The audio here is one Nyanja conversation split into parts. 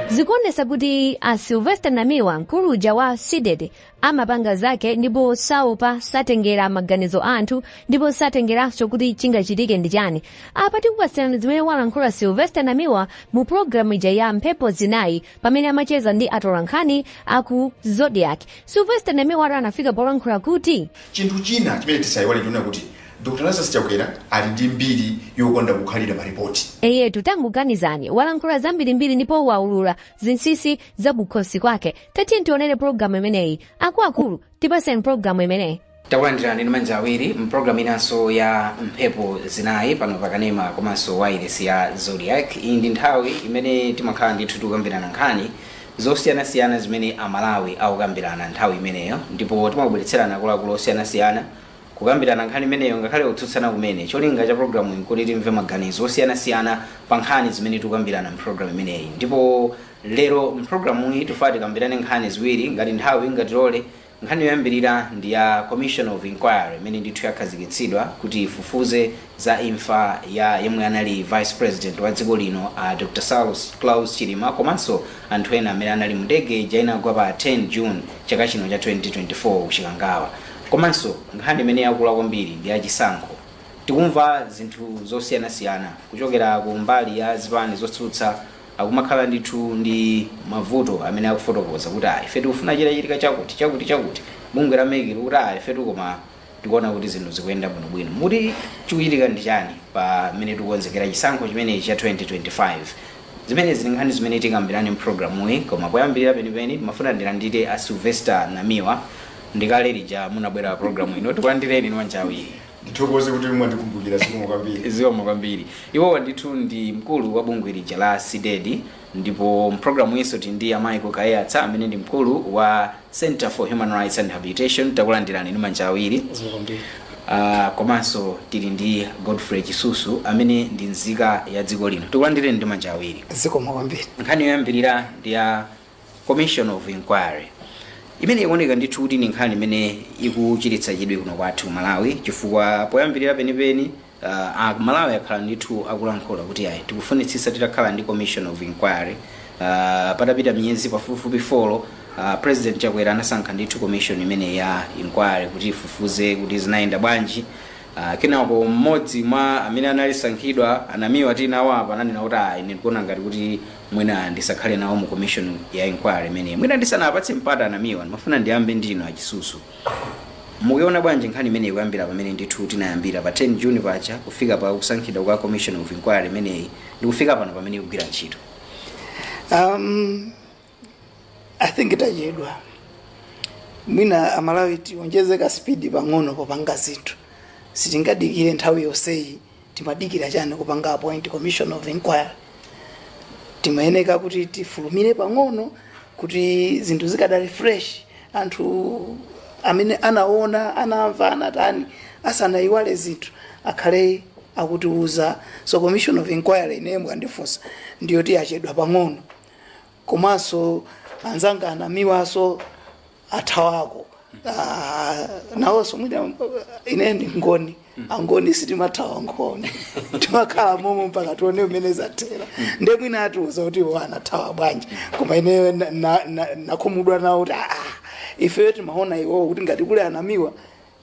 zikuonesa kuti a sylvester namiwa mkulu uja wa cdedi amapanga zake ndipo saopa satengera maganizo a anthu ndipo satengeranso kuti chingachitike ndi chani apa tikupatsirani zimene walankhula sylvester namiwa mu programu ija ya mphepo zinayi pamene amacheza ndi atolankhani aku zodiak sylvester namiwa anafika polankhula kuti chinthu china chimene tisayiwale chonena kuti Dr Lazarus Chakwera ali ndi mbiri yokonda kukhalira malipoti. Eyetu tangoganizani walankhula zambirimbiri ndipo waulula zinsinsi za kukhosi kwake. Tatiyeni tionere pologalamu imeneyi. Akuluakulu tipaseni pologalamu imeneyi. takulandirani ndi manja awiri mpulogalamu inanso ya mphepo zinayi pano pakanema komanso wailesi ya zodiak iyi ndi nthawi imene timakhala ndithu tikukambirana nkhani zosiyanasiyana zimene amalawi akukambirana nthawi imeneyo ndipo timakubweretserani akuluakulu osiyanasiyana Kukambirana nkhani imeneyo, ngakhale kutsutsana kumene, cholinga cha pulogalamuyi n'kuti timve maganizo osiyanasiyana pa nkhani zimene tikukambirana m'pulogalamu imeneyi. Ndipo lero m'pulogalamuyi tifuna tikambirane nkhani ziwiri, ngati nthawi ingatilole. Nkhani yoyambirira ndi ya Commission of Inquiry imene ndithu yakhazikitsidwa kuti ifufuze za imfa ya yemwe anali Vice President wa dziko lino, a Dr Klaus Chilima komanso anthu ena amene anali mu ndege ija inagwa pa 10 June chaka chino cha 2024 ku Chikangawa. Komanso nkhani imene yakula kwambiri ndi ya chisankho. Tikumva zinthu zosiyanasiyana kuchokera ku mbali ya zipani zotsutsa akumakhala ndithu ndi mavuto amene akufotokoza kuti ah ife tikufuna chichitike chakuti, chakuti, chakuti. Bungwe la mec likuti ah ifetu koma tikuona kuti zinthu zikuyenda bwinobwino. Muti chikuchitika ndi chani pamene tikukonzekera chisankho chimenechi cha 2025? Zimenezi ndi nkhani zimene tikambirane m'pulogalamuyi, koma poyambirira penipeni ndimafuna ndilandire a Sylvester Namiwa. Ndi kale lija munabwera pa pulogalamu ino, tikulandireni ndi manja awiri. Ndithokoze kuti mwandikumbukira, zikomo kwambiri. Zikomo kwambiri. Iwowa ndithu ndi mkulu wa bungwe lija la Cdedi ndipo m'pulogalamu iyinso tili ndi a Michael Kaiyatsa amene ndi mkulu wa Centre for Human Rights and Rehabilitation takulandirani ndi manja awiri Zikomo kwambiri. Ah, komanso tili ndi Godfrey Chisusu amene ndi nzika ya dziko lino tikulandireni ndi manja awiri Zikomo kwambiri. nkhani yoyambirira ndi ya commission of inquiry imene ikuoneka ndithu kuti ndi nkhani imene ikuchititsa chidwi kuno kwathu ku malawi chifukwa poyambirira penipeni A Malawi akhala ndithu akulankhula kuti ayi tikufunitsitsa titakhala ndi commission of inquiry. Patapita miyezi pafupifupi folo, President Chakwera anasankha ndithu commission imeneyi ya inquiry kuti ifufuze kuti zinayenda bwanji. Kenako mmodzi mwa amene anasankhidwa, a Namiwa tili nawo apa, ananena kuti ayi ine ndikuona ngati kuti mwina ndisakhale nawo mu commission ya inquiry imeneyi. Mwina ndisanawapatse mpata a Namiwa ndimafuna ndiyambe ndi inu a Chisusu. Mukuiona bwanji nkhani imeneyi kuyambira pamene ndithu tinayambira pa 10 June paja kufika pa kusankhidwa kwa commission of inquiry imeneyi ndi kufika pano pamene ikugwira ntchito? Um, I think itachedwa mwina amalawi tiwonjeze ka speed pang'ono popanga zinthu sitingadikire nthawi yonseyi Timadikira chani kupanga appoint commission of inquiry? Timayeneka kuti tifulumire pang'ono kuti zinthu zikadali fresh anthu amene anaona, anamva, anatani asanayiwale zinthu akhale akutiuza. So commission of inquiry ineyo mukandifunsa ndiyoti yachedwa pang'ono komanso anzanga a Namiwaso athawako Ah, nawonso mwina uh, ine ndi Mngoni Angoni sitimathawa Mngoni timakhala momo mpaka tione mmene zathera nde mwina atiuza kuti iwo anathawa bwanji koma ineyo na- na- na- nakhumudwa nawo kuti aa ifeyo timaona iwowo kuti ngati kuli a Namiwa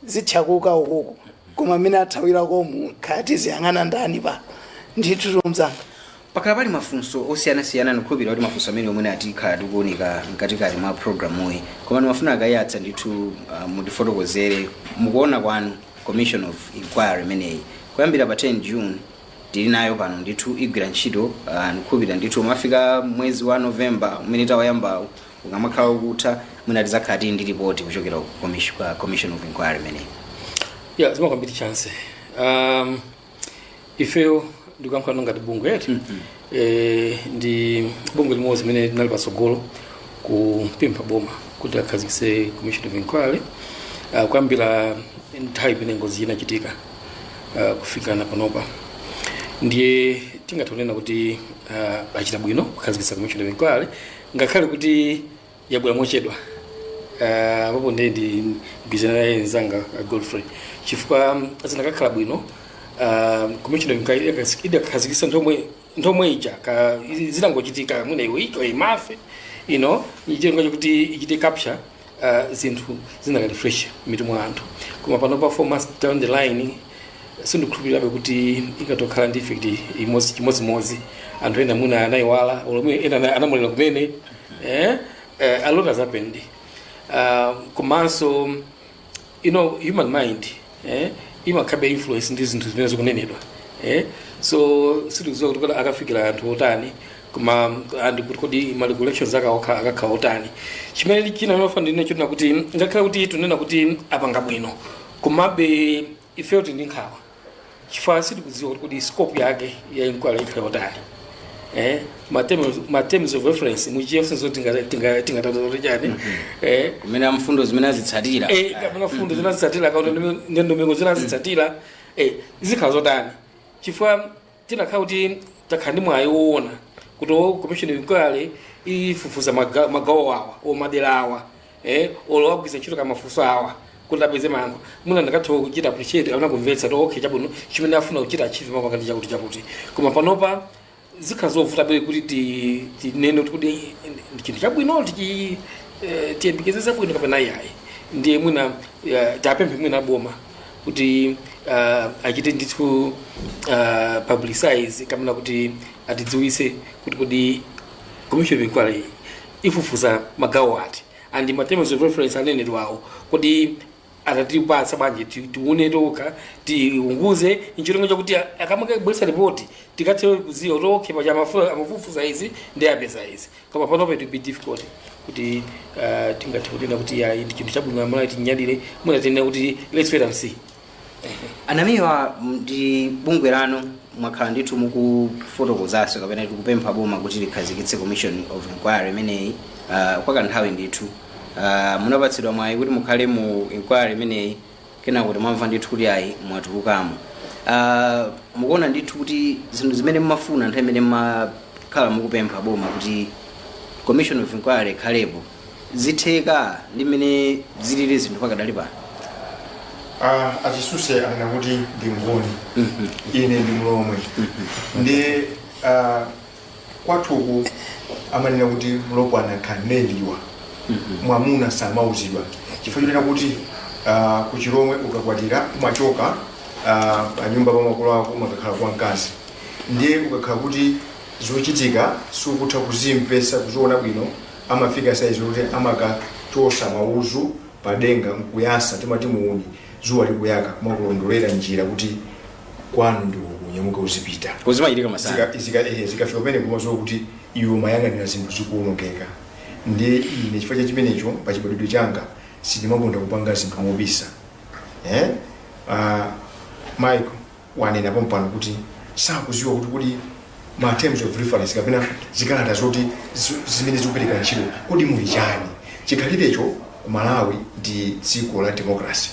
zithyakuka ukoko koma mmene athawilakomu kaya tiziyang'ana ndani pa ndithu omzanga pakhala pali mafunso osiyanasiyana ndikhulupirira kuti mafunso amene omwe atikhala tikuunika mkatikati mwa programuyi koma ndimafuna a Kaiyatsa ndithu uh, mutifotokozere mukuona kwanu commission of inquiry imeneyi kuyambira pa 10 june tili nayo pano ndithu igwira ntchito uh, ndikhulupirira ndithu umafika mwezi wa november umene tauyambawu ukamakhala ukutha mwina tidzakhala tili ndi ripoti kuchokera ku commis- kwa commission of inquiry imeneyi yah zikomo kwambiri Chancy um, ifeyo ndikuyankhulano ngati bungwe lathu eh, ndi bungwe limodzi limene linali patsogolo kupempha boma kuti akhazikise commission of inquiry uh, kuyambira nthawi imene ngozi inachitika uh, kufika na panopa ndiye tingathe kunena kuti uh, achita bwino kukhazikisa commission of inquiry ngakhale kuti yabwera mochedwa ah, apapo ndiye ndigwirizana naye mzanga ah, godfrey chifukwa mm, zinakakhala bwino ah, commission of inquiry idakas- idakhazikisa nthawi yomwe ija ka- zitangochitika mwina within a month ino cholinga chakuti ichite capture uh, zinthu zinakali fresh mmitu mwa anthu koma panopa four months down the line sindikhulupirirabe kuti ikatokhala ndi effect chimodzimodzi anthu ena mwina anayiwala olo mwina ena ana- anamwalira kumene eh? eh, a lot has happened uh, komanso you know human mind eh, imakhabe influenced ndi zinthu zimene zikunenedwa eh? so sitikuziwa kuti kodi akafikira anthu otani komanso ndi kuti kodi ma recollections aka- aka- akakhala otani chimene china ndikufuna ndinene n'chonena kuti ngakhale kuti tunena kuti apanga bwino komabe ifeyo tili ndi nkhawa chifukwa sitikudziwa kuti kodi scope yake ya inquiry ikhala zotani eh ma terms ma terms of reference mu Chichewa zoti tinga tinga tinga tanthauze chani eh kumene mfundo zimene azitsatira eh kapena mfundo zimene azitsatira kapena ndondomeko zimene azitsatira eh zikhala zotani chifukwa tinakhala kuti takhala ndi mwayi woona kuti commission of inquiry ifufuza maga- magawo awa or madera awa eh, or agwiritsa ntchito mafunso awa kuti apeze mayankho mwina tikanatha kuchita appreciate kapena kumvetsa kuti okay chabwino chimene afuna kuchita achieve pamapeto ndi chakuti chakuti koma panopa zikhala zovuta mwina kuti ti- tinene kuti kodi ndi chinthu chabwino tichi eh, tiyembekeze zabwino kapena iyayi ndiye mwina eh, tiwapemphe mwina aboma kuti uh, achite ndithu uh, publicize kapena kuti atidziwise kuti kodi commission of inquiry ifufuza magawo ati and ma terms of reference anenedwawo kodi atatipatsa bwanji ti- tione tokha tiunguze ncholinga chakuti akamakabweresa ripoti tikathe kuziwa kuti okay paja amafu- amafufuza izi ndi apeza izi koma panopa it will be difficult kuti uh, tingathe kunena kuti ya ndi chinthu chabwino amalawi tinyadire mwina tinena kuti let's wait and see a Namiwa ndi bungwe lanu mwakhala ndithu mukufotokozanso kapena kupempha boma kuti likhazikitse commission of inquiry imeneyi uh, kwa kanthawi ndithu uh, munapatsidwa mwayi kuti mukhale mu inquiry imeneyi kenako kuti mwamva ndithu kuti ayi mwatulukamo Ah, mukuona ndithu kuti zinthu zimene mmafuna nthawi imene mmakhala mukupempha boma kuti commission of inquiry ikhalepo zitheka ndi mmene zilili zinthu pakadali pano Ah, a Chisuse anena kuti ndi mngoni ine ndi mlomwe ndi ah, kwathu uku amanena kuti mlopwana khaneliwa mwamuna samauzidwa chifukwa chonena kuti ah, ku chilomwe ukakwatira umachoka ah, pa nyumba pa makolo ako umakakhala kwa mkazi ndiye ukakhala kuti zochitika sukutha kuzimvesa kuziona bwino amafika saizi kuti amakachosa mauzu padenga nkuyasa timati muuni zuwa likuyaka kumakulondolera njira kuti kwanu ndi uku nyamuka uzipita zimachitika masana Zika- zika- eh, zikafika pamenepo umaziwa kuti iwe ukuyang'anira zinthu zikuonongeka ndiye ine chifukwa cha chimenecho pa chibadwidwe changa sindimakonda kupanga zinthu mobisa eh? uh, michael wanena pompano kuti sakuziwa kuti kodi ma terms of reference kapena zikalata zoti zi- zimene zikupereka ntchito kodi muli chani chikhalirecho ku malawi ndi dziko la democracy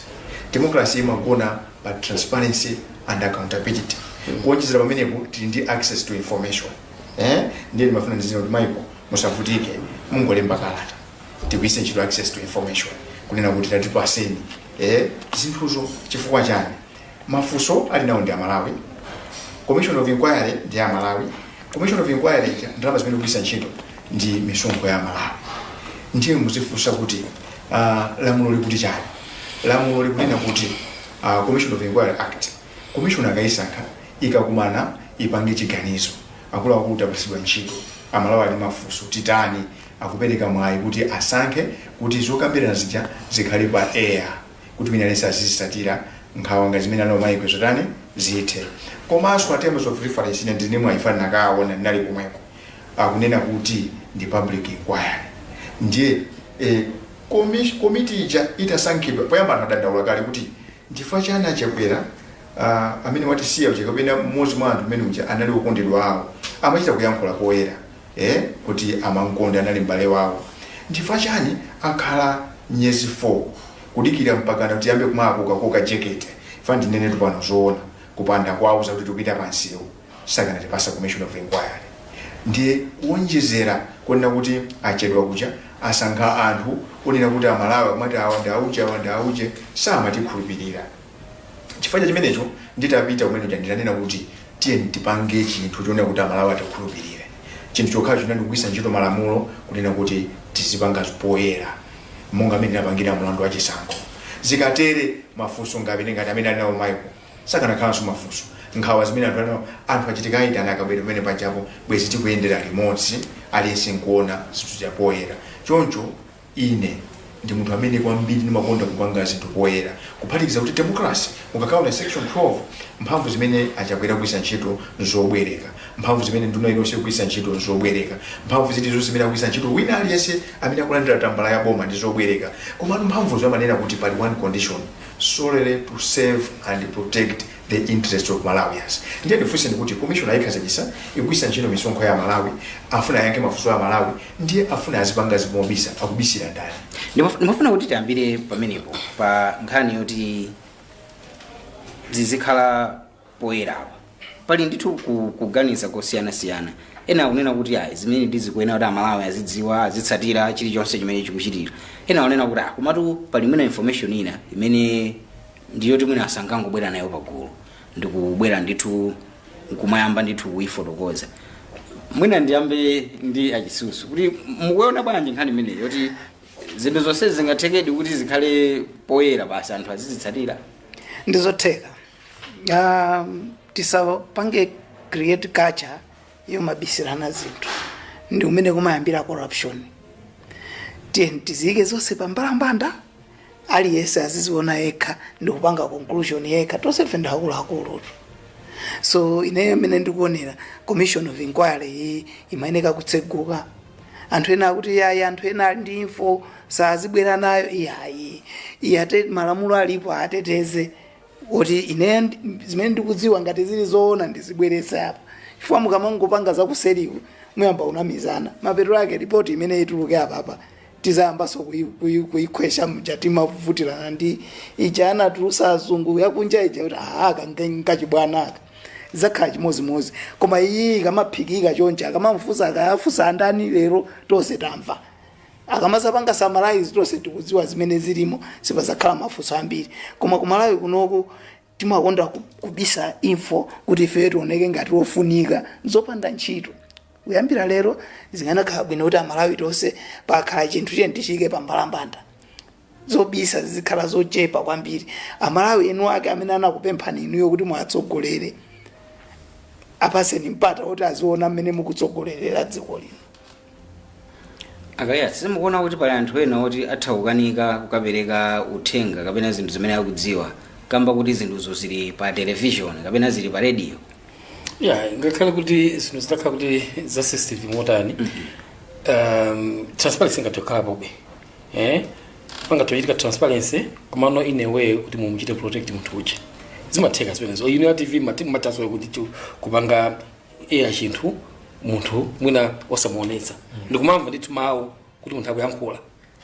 democracy imagona pa transparency and accountability kuonjezera pamenepo tili ndi access to information eh? ndiye ndimafuna ndizinena kuti Michael musavutike mungolemba kalata tigwiritse ntchito access to information kunena kuti tatipaseni eh? zinthuzo chifukwa chani mafunso ali nawo ndi amalawi commission of inquiry ndi ya amalawi commission of inquiry ija ndalama zimene ikugwiritsa ntchito ndi misonkho ya amalawi ndiye muzifunsa kuti uh, lamulo likuti chani lamulo likunena kuti uh, commission of inquiry act commission akayisankha ikakumana ipange chiganizo akuluakulu tapatsidwa ntchito amalawi ali ndi mafunso titani akupereka mwayi kuti asankhe kuti zokambirana zija zikhale pa air kuti wina aliyense azizisatira nkhawa ngati zimene ali nawo Michael zotani zithe komanso terms of reference ine ndine mwayi chifukwa ndinakaona ndinali komweko akunena kuti ndi public inquiry ndiye eh, komi- komiti ija itasankhidwa poyamba anthu adandaula kale kuti nchifukwa chani achakwera ah, amene watisiya uja kapena mmodzi mwa anthu amene uja anali okondedwa awo amachita kuyankhula poyera eh, kuti amankonda anali m'bale wawo nchifukwa chani akhala miyezi 4 kudikira mpakana tiyambe kumakokakoka jekete chifukwa ndinenetu pano zoona kupanda kuwauza kuti tikupita pansiwo sakanatipasa commission of inquiry ndiye kuonjezera kunena kuti achedwa kuja asankha anthu onena kuti amalawi amati awa ndi auje awa ndi auje samatikhulupirira chifukwa cha chimenecho nditapita kumene kuja ndinanena kuti tiyeni tipange chinthu chonena kuti amalawi atikhulupirire chinthu chokhacho chinali kugwiritsa ntchito malamulo kunena kuti tizipanga poyera monga mmene tinapangira mlandu wa chisankho zikatere mafunso ngapite ngati amene ali nawo Michael sakanakhalanso mafunso nkhawa zimene anthu ana anthu a Chitika aitana akabwera pamene pajapo bwezi tikuyendera limodzi aliyense nkuona zinthu za poyera choncho ine ndi munthu amene kwambiri ndimakonda kupanga zinthu poyera kuphatikiza kuti democracy ukakaona section 12 mphamvu zimene achakwera akugwiritsa ntchito nzobwereka mphamvu zimene nduna iliyonse ikugwiritsa ntchito nzobwereka mphamvu zilizonse zimene akugwiritsa ntchito wina aliyense amene akulandira tambala ya boma ndi zobwereka komano mphamvuzo amanena kuti pali one condition solely to serve and protect the interest of malawians ndiye ndifunseni kuti commission ayikhazikisa ikugwisa ntchito misonkho ya amalawi afuna ayankhe mafunso a amalawi ndiye afuna azipanga zinthu mobisa akubisira ndani Ndimaf- ndimafuna kuti tiyambire pamenepo pa nkhani yoti zizikhala poyera apa pali ndithu ku- kuganiza kosiyanasiyana ena akunena kuti ayi zimenezi zikuyenera kuti amalawi azidziwa azitsatira chilichonse chimene chikuchitika ena akunena kuti ah komatu pali mwina information ina imene ndi yoti mwina asangangobwera nayo pagulu ndikubwera ndithu nkumayamba ndithu kuyifotokoza mwina ndiyambe ndi a Chisusu kuti mukuona bwanji nkhani imeneyi yoti zinthu zonse zingathekedi kuti zikhale poyera basi anthu azizitsatira ndizotheka um, tisapange create culture yomabisirana zinthu ndi kumene kumayambira corruption tiyeni tiziyike zonse pa mbalambanda aliyense aziziona yekha ndi kupanga conclusion yekha tonse ndife akuluakulu so ineyo mmene ndikuonera commission of inquiry iyi imayeneka kutseguka anthu ena akuti yayi anthu ena ali ndi info sazibwera nayo iyayi iyayitu malamulo alipo ateteze kuti ine ndi- zimene ndikudziwa ngati zili zoona ndizibweretse apa chifukwa mukamangopanga zakuseriku muyamba kunamizana mapeto ake ripoti limene lituluke apapa tizayambanso kuyi- kuyi- kuyikhwesha mja tikuvutirana ndi ija anatulusa azungu yakunja ija kuti ah aka nkachibwana aka zizakhala chimodzimodzi koma iyi ikamaphikika chonchi akamafunsa kaya afunsa andani lero tonse tamva akamazapanga summarize tonse tikudziwa zimene zilimo sipazakhala mafunso ambiri koma kumalawi kunoku timakonda ku- kubisa info kuti ifeyo tioneke ngati ofunika nzopanda ntchito kuyambira lero zikanakhala bwino kuti amalawi tonse pakhala chinthu tiyeni tichiike pa mbalambanda zobisa zizikhala zochepa kwambiri amalawi enu ake amene anakupemphani inuyo kuti muwatsogolere apaseni mpata woti aziona mmene mukutsogolerera dziko lino a Kaiya simukuona kuti pali anthu ena oti atha kukanika kukapereka uthenga kapena zinthu zimene akudziwa kamba kuti zinthuzo zili pa televishoni kapena zili pa rediyo ya ngakhale kuti zinthu zitakhala kuti za sensitive motani um, transparency ingathe kukhalapobe eh pangathe kuchitika transparency komano in a way kuti mumuchite protect munthu uja zimatheka zimenezo imene tv ma time timatha so kuti chu- kupanga eya chinthu munthu mwina osamuonetsa ndikumamva ndithu mawu kuti munthu akuyankhula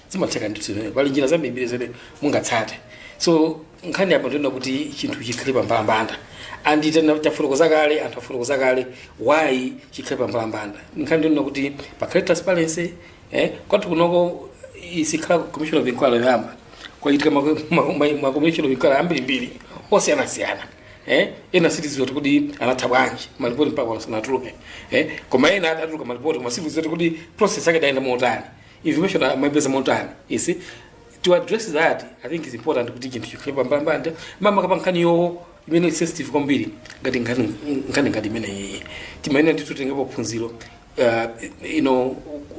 zimatheka ndithu zimenezo pali njira zambirimbiri zimene mungatsate so nkhani yapa ndi yonena kuti chinthu chikhale pambalambanda and then tafotokoza kale anthu afotokoza kale why chikhale pambalambanda nkhani ndi yonena kuti pakhale transparency eh kwathu kunoko isikhala commission of inquiry yoyamba kwachitika ma- ma- ma- ma commission of inquiry ambirimbiri osiyanasiyana eh ena sitidziwa kuti kuti anatha bwanji malipoti mpaka sanatuluke eh koma ena atatuluka malipoti koma sitidziwa kuti kuti process yake idayenda motani information amaipeza motani you see to address that i think it's important kuti chinthu chikhale pambalambanda makamaka pankhaniyo imene is sensitive kwambiri ngati nkhani nkhani ngati imeneyi timayenera ndithu titengepo phunziro uh, you know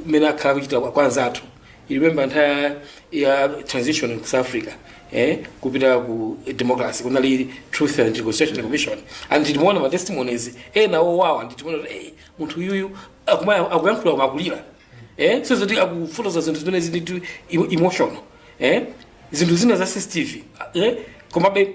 mmene akhala kuchita kwa anzathu you remember nthawi ya transition in south africa eh, kupita ku democracy kunali truth and reconciliation commission and timaona ma testimonies ena owawa and timaona kuti eh, munthu uyuyu akuma- akuyankhula kumakulira eh, so zoti akufotoza zinthu zimene zili too emotional eh, zinthu zina za sensitive eh, komabe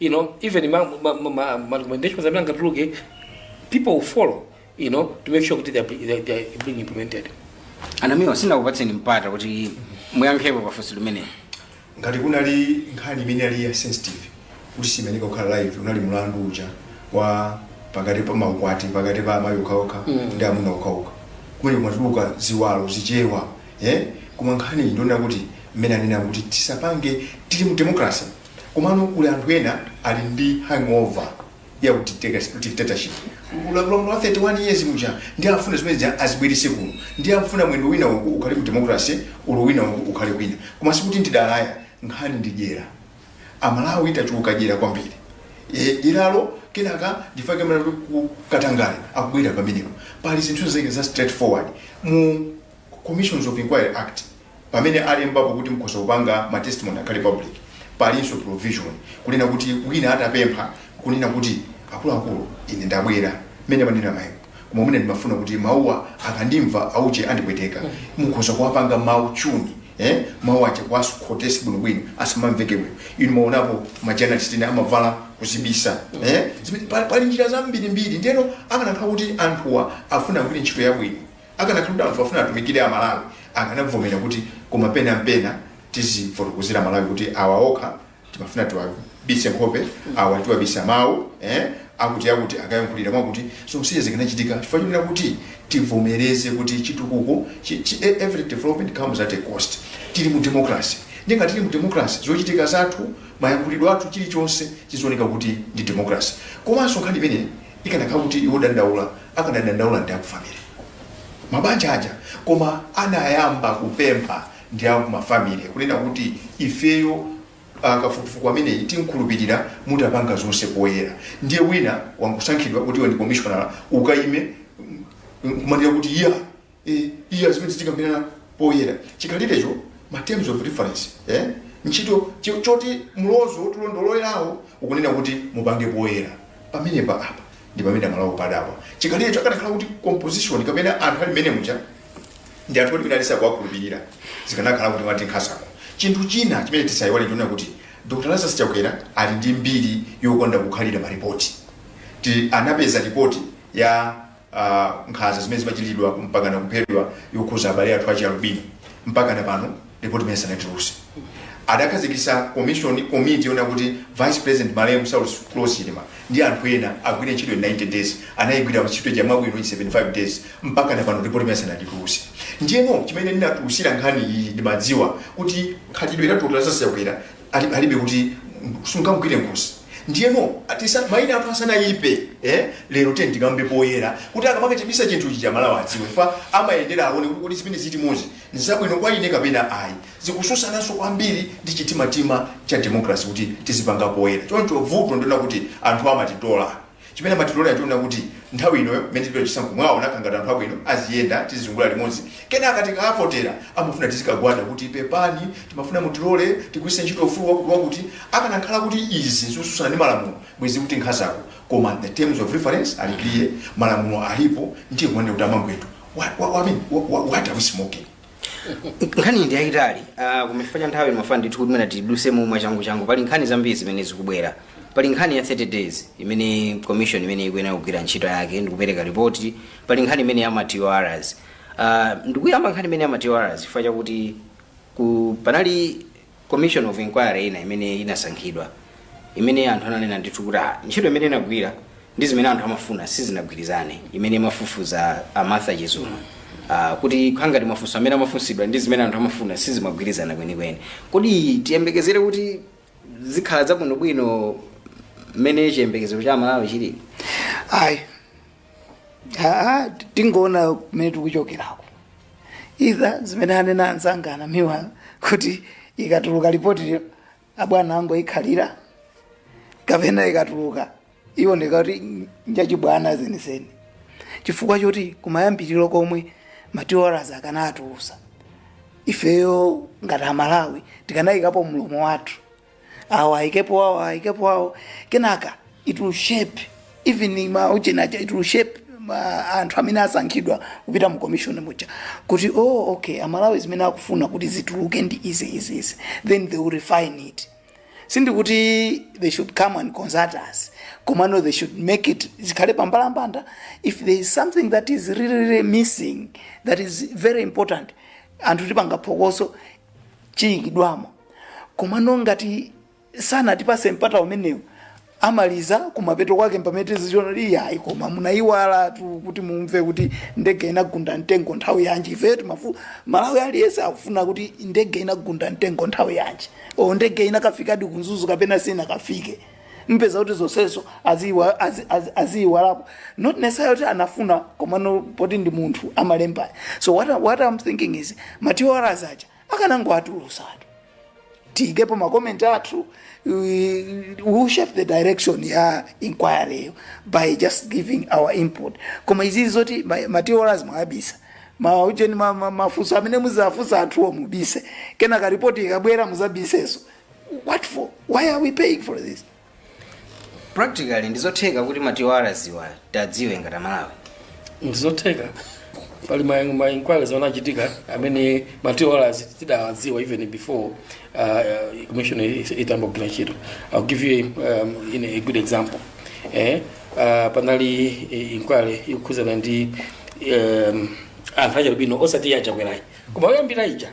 you know even ma, ma, ma, ma, ma recommendations amene angatuluke people will follow you know to make sure kuti they, are- they, are- they are being implemented a namiwa sindinakupatseni mpata kuti muyankhepo pafunso limeneli ngati kunali nkhani imene inali ya sensitive kuti siimayenera kukhala live unali mlandu uja wa pakati pa maukwati pakati pa amayi okhaokha ndi amuna okhaokha kumene kumatuluka ziwalo chichewa eh? koma nkhani iyi ndionera kuti mmene anena kuti tisapange tili mu democracy Komano kuli anthu ena ali ndi hangover ya dictatorship. Ulamuliro wa 31 years muja ndiye afuna zimene zija azibweretse kuno. Ndiye afuna mwendo winawu ukhale ku democracy olo winawu ukhale kwina. Koma sikuti ndi dala ayi. Nkhani ndi dyera. A Malawi tachuluka dyera kwambiri. Eeh dyeralo kenaka chifukwa chake mwana wake katangale akubwera pamenepo. Pali zinthu zake za straight forward mu. Commissions of Inquiry Act pamene alembapo kuti mukhoza kupanga ma testimony akhale public, palinso provision kunena kuti wina atapempha kunena kuti akuluakulu ine ndabwera mmene amanenera mayiwo koma mwina ndimafuna kuti mawuwa akandimva auje andipweteka mukhoza kuwapanga mawu chuni eh? mawu aja kuwakhotetsa bwinobwino asamamveke bwino inu mumaonapo majournalist ena amavala kuzibisa eh? Zimene- pa- pali njira zambirimbiri ndeno akanakhala kuti anthuwa afuna agwire ntchito yabwino Akanakhala kuti anthu afuna atumikire a Malawi akanabvomera kuti koma pena ndi pena tizifotokozera a Malawi kuti awa okha timafuna tiwabise nkhope, awa tiwabisa mau, eh, akuti akuti akayankhulira mwakuti zonse zikanachitika chifukwa chonena kuti tibvomereze kuti chitukuko chi, chi, e- every development comes at a cost. Tili mu democracy ndiye ngati tili mu democracy zochitika zathu mayankhulidwe athu chilichonse chizioneka kuti ndi democracy komanso nkhani imeneyi ikanakhala kuti ndi wodandaula akanadandaula ndi aku family mabanja aja koma anayamba kupempha ndi aku mafamily kunena kuti ifeyo ah, kafukufuku ameneyi tiukhulupirira mutapanga zonse poyera ndiye wina wangosankhidwa kuti iwe ndi commissioner ukayime kumanira kuti iya e, iya zimene zitikambirana poyera chikhalirecho ma terms of reference eh? ntchito chi- choti mlozo wotilondololerawo ukunena kuti mupange poyera pamenepa apa ndi pamene amalakwa podapa chikhalirecho akanakhala kuti composition kapena anthu ali mmene muja ndi anthu olimira alisa kuwakhulupirira zikanakhala kuti wati nkhazako chinthu china chimene tisayiwale ndichonena kuti dr lazarus chakwera ali ndi mbiri yokonda kukhalira maripoti ti anapeza ripoti ya a nkhanza zimene zimachitidwa mpakana kuphedwa yokhuza abale athu achialubino mpakana pano report imene sanatuluse adakhazikisa commission committee yona kuti vice president malemu saulos klaus chilima ndi anthu ena agwire ntchito in 90 days anayigwira ntchito ija mwabwino in 75 days mpakana pano report imene sanatuluse ndiyeno chimene ndinatulusira nkhani iyi ndimadziwa kuti khalidwe la dr lazarus chakwera alibe kuti sungamgwire nkhosi ndiyeno atisa maina athu asanayipe eh? lero tiyeni tikambe poyera kuti akamake chibisa chinthu chija amalawi adziwe fa amayendera aone kuti kodi zimene ziti mozi nzabwino kwa ine kapena ayi zikusutsananso kwambiri ndi chitimatima cha democracy kuti tizipanga poyera choncho vuto ndionena kuti anthu amatitola Chimene amatitolera nchonena kuti nthawi ino mmene tikupita ku chisankho mwawaoneka ngati anthu abwino aziyenda tizizungula limodzi kenaka tikawavotera amafuna tizikagwada kuti pepani timafuna mutilole tigwiritse ntchito ufulu wakuti wakuti akanakhala kuti izi nzosutsana ndi malamulo bwezi tikuti nkhazako koma the terms of reference ali clear malamulo alipo ndiye kumanena kuti amangwetu what, what, what, what, what are we smoking nkhani ndi yayitali uh, koma chifukwa cha nthawi ndimafuna ndithu kuti mwina tiduse mwachangu changu pali nkhani zambiri zimene zikubwera pali nkhani ya 30 days imene commission imene ikuyenera kugwira ntchito yake ndikupereka ripoti pali nkhani imene ya ma tors uh, ndikuyamba nkhani imene ya ma tors chifukwa chakuti ku panali commission of inquiry ina imene inasankhidwa imene anthu ananena ndithu kuti "Ah, ntchito imene inagwira ndi zimene anthu amafuna sizinagwirizane imene imafufuza a martha chizuma Ah, kuti kukhala ngati mafunso amene amafunsidwa ndi zimene anthu amafuna sizimagwirizana kwenikweni kodi tiyembekezere kuti zikhala zabwinobwino mmene chiyembekezo cha amalawi chilili ayi aa tikangoona kumene tikuchokerako either zimene anena anzanga a namiwa kuti ikatuluka lipoti abwana angoikhalira kapena ikatuluka iwoneka kuti njachibwana zenizeni chifukwa choti kumayambiriro komwe ma tors akanatulusa ifeyo ngati amalawi tikanayikapo mlomo wathu awo ayikepo awo ayikepo awo kenaka it will shape even ma ujeni aja it will shape ma- anthu amene asankhidwa kupita mu commission muja kuti oh okay amalawi zimene akufuna kuti zituluke ndi izi izi izi then they will refine it sindikuti they should come and consult us komano they should make it zikhale pambalambanda if there is something that is really, really missing that is very important anthu tipanga phokoso chiyikidwamo komano ngati sanatipase mpata umenewu amaliza kumapeto kwake mpamene tizichiona kuti iyayi koma munayiwalatu kuti mumve kuti ndege inagunda mtengo nthawi yanji ifeyo timafu- mmalawi aliyense akufuna kuti ndege inagunda mtengo nthawi yanji o ndege inakafikadi ku mzuzu kapena sinakafike mpeza kuti zonsezo aziiwa- azi- azi- aziiwalapo not necessarily kuti anafuna komano poti ndi munthu amalemba so what, I- what i'm thinking is ma TORs aja akanangoatulusatu tiikepo makomenti athu we will shape the direction ya inquiry yo by just giving our input koma izizi zoti ma- ma TORs mwawabisa maujeni mafunso amene muzafunsa anthuwo mubise kenaka ripoti ikabwera muzabiseso What for? Why are we paying for this? practically ndizotheka kuti ma TORs wa tiwadziwe ngati amalawi ndizotheka pali ma- ma inquiries anachitika amene ma TORs tidawadziwa even before uh, uh, commission is- itayamba kugwira ntchito i'll give you a, um, in a good example eh, uh, panali eh, inquiry yokhuzana ndi um, anthu achialubino osati ya chakwerayi koma yoyambira ija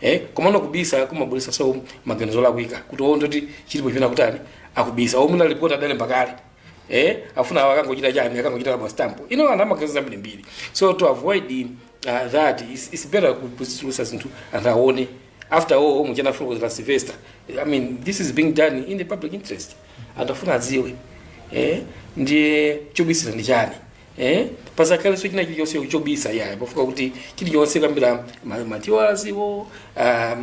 eh komano kubisa kumabweresaso maganizo olakwika kuti oo ndekuti chilipo chimene akutani akubisa oo mwina report adalemba kale eh afuna awa akangochita chani akangochita rubber stamp ino ana maganizo ambirimbiri so to avoid uh, that it's, it's better kuzitulusa zinthu anthu aone after all omwe chana fuko za Sylvester i mean this is being done in the public interest anthu afuna aziwe eh ndiye chobisira ndi chani eh pasakhalenso china chilichonse chobisa iyayi pafunika kuti chilichonse kuyambira ma- ma TORs wo ah, ah,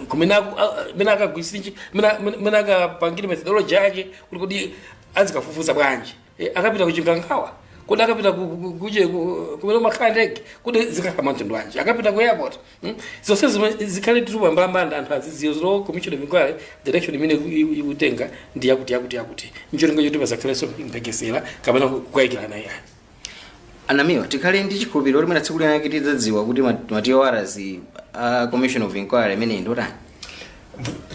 kumene aku- ah, mene akagwiritsa ntchi- mene- mene- mene akapangire methodology yake kuti kodi azikafufuza bwanji Eh, akapita ku chikangawa kodi akapita ku- ku- ku- kuje ku- kumene kumakhala ndege kodi zikakhala zamtundu wanji akapita ku airport Hmm? zonse zomwe zikhale zili pambalambanda anthu azidziwa zino commission of inquiry direction imene iku- iku- ikutenga ndi yakuti yakuti yakuti ncholinga choti pasakhalenso mphekesera kapena kukayikirana yayi anamiwa tikhale ndi chikhulupiriro kuti mwina tsiku lina lake tidzadziwa kuti ma- ma TORs a commission of inquiry imeneyi ndotani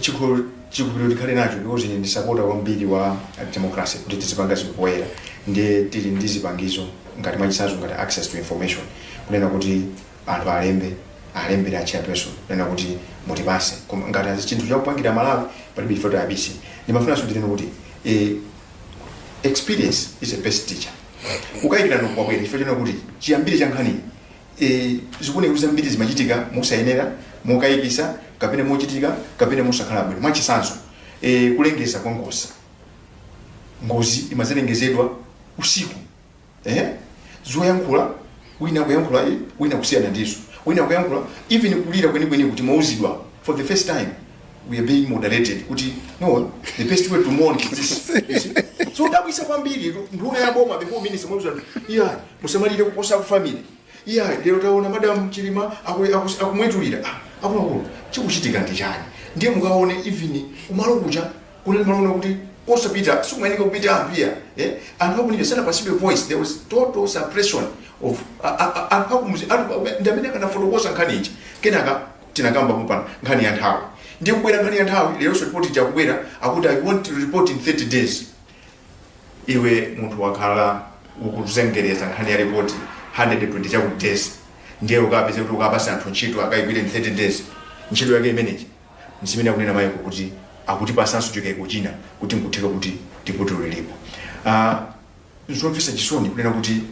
chikhulupiriro tikhale nacho because ine ndi sapota kwambiri wa democracy kuti tizipanga zinthu poyera ndiye tili ndi zipangizo ngati mwachisazo ngati access to information kunena kuti anthu alembe alembere a chairperson kunena kuti mutipase koma ngati azi chinthu chakupangira malawi palibe chifukwa chobisa ndimafunanso ndinene kuti eh, experience is the best teacher kukayikirana kwabwera chifukwa chona kuti chiyambire cha nkhani eh, zikuoneka kuti zambiri zimachitika mosayenera mokayikisa kapena mochitika kapena mosakhala bwino mwachisanso eh, kulengeza kwa ngozi ngozi imazalengezedwa usiku eh zoyankhula wina kuyankhula iyi wina kusiyana ndizo wina kuyankhula even kulira kwenikweni kuti mwauzidwa for the first time we are being moderated kuti no the best way to mourn is this You see? so zodabwisa kwambiri nduna ya boma info minister mwauzidwa iya musamalire kuposa ku family iya lero taona madam chilima aku- aku- akumwetulira Ah, akuluakulu chikuchitika ndi chani ndiye mukaone even kumalo kuja Kunali malo oti kosapita sikumayeneka kupita apa iya eh? anthu akunija sanapasidwe voice there was total suppression of a- a- a- anthu akumuzi anthu akume- ndi amene akanafotokoza nkhani ija kenaka tinakamba kupana nkhani ya nthawi ndiye kubwera nkhani ya nthawi leronso ripoti ija kubwera akuti i want to report in 30 days iwe munthu wakhala akuzengereza nkhani ya ripoti 120 chakuti days ndiye ukapeze kuti ukapasa anthu ntchito akayigwire in 30 days ntchito yake imeneyi N'zimene akunena Michael kuti akutipatsanso chikaiko china kuti n'kutheka kuti ndi vutolo lilipo. Ah, N'zomvetsa chisoni kunena kuti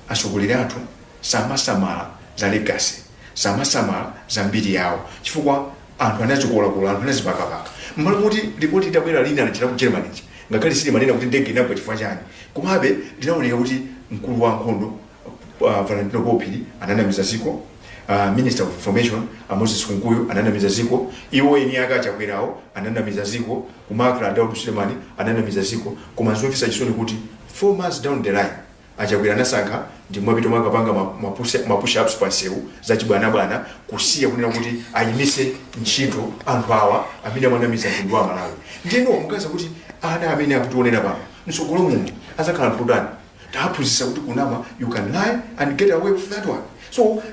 atsogoleri athu samasamala za legacy, samasamala za mbiri yawo chifukwa anthu amazikolakola, anthu amazipakapaka. M'malo moti lipoti litabwera lina lija la ku Germany lija, ngakhale silimanena kuti ndege inagwa chifukwa chani, komabe linaoneka kuti mkulu wa ankhondo uh, Valentino Phiri ananamiza ziko uh, Minister of Information uh, Moses Kunkuyu ananamiza ziko iwo eni ake a Chakwerawo ananamiza ziko ku MACRA Daud Sulemani ananamiza ziko koma zomvetsa chisoni kuti 4 months down the line a Chakwera anasankha kumapita kukapanga mapush ups pa msewu za chibwanabwana kusiya kunena kuti ayimise ntchito anthu awa amene amanamiza mtundu wa Malawi ndiyeno muona kuti ana amene akutionera pano msogolo muno azakhala anthu otani Tawaphunzitsa kuti kunama you can lie and get away with that one so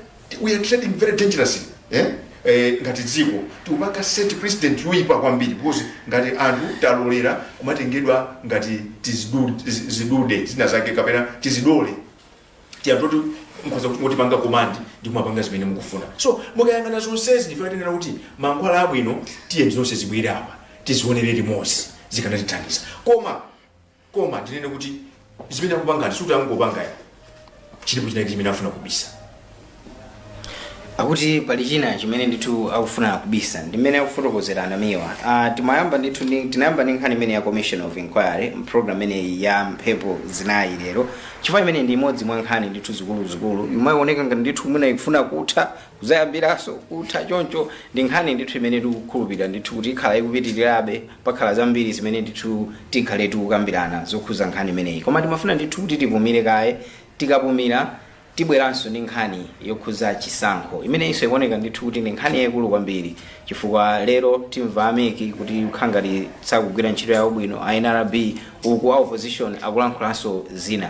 we are treading very dangerously eh? Eh, ngati dziko tikupanga set precedent yoyipa kwambiri because ngati anthu talolera kumatengedwa ngati tizidu- tizi- zidude zina zake kapena tizidole tija toti mukhoza kumatipanga komandi ndi kumapanga zimene mukufuna so mukayang'ana zonsezi ndi ife timanena kuti mankhwala abwino tiyeni zonse zibwere apa tizionere limodzi zikanatithandiza koma koma ndinene kuti zimene akupangazi sikuti angopanga ayi chilipo chinachake chimene afuna kubisa akuti pali china chimene ndithu akufuna kubisa ndi mmene akufotokozera a Namiwa uh, timayamba ndithu ndi- tinayamba ndi nkhani imene ya commission of inquiry mprogram imeneyi ya mphepo zinayi lero chifukwa imeneyi ndi imodzi mwa nkhani ndithu zikuluzikulu imayioneka ngati ndithu mwina ikufuna kutha Zayambiranso kutha choncho ndi nkhani ndithu imene tikukhulupirira ndithu kuti ikhala ikupitirirabe, pakhala zambiri zimene ndithu tikhale tikukambirana zokhuza nkhani imeneyi koma timafuna ndithu kuti tipumire kaye, tikapumira tibweranso ndi nkhani yokhuza chisankho imeneyinso ikuoneka ndithu kuti ndi nkhani yaikulu kwambiri chifukwa lero timva a mec kuti akukhala ngati sakugwira ntchito yawo bwino, a nrb uku a opposition akulankhulanso zina.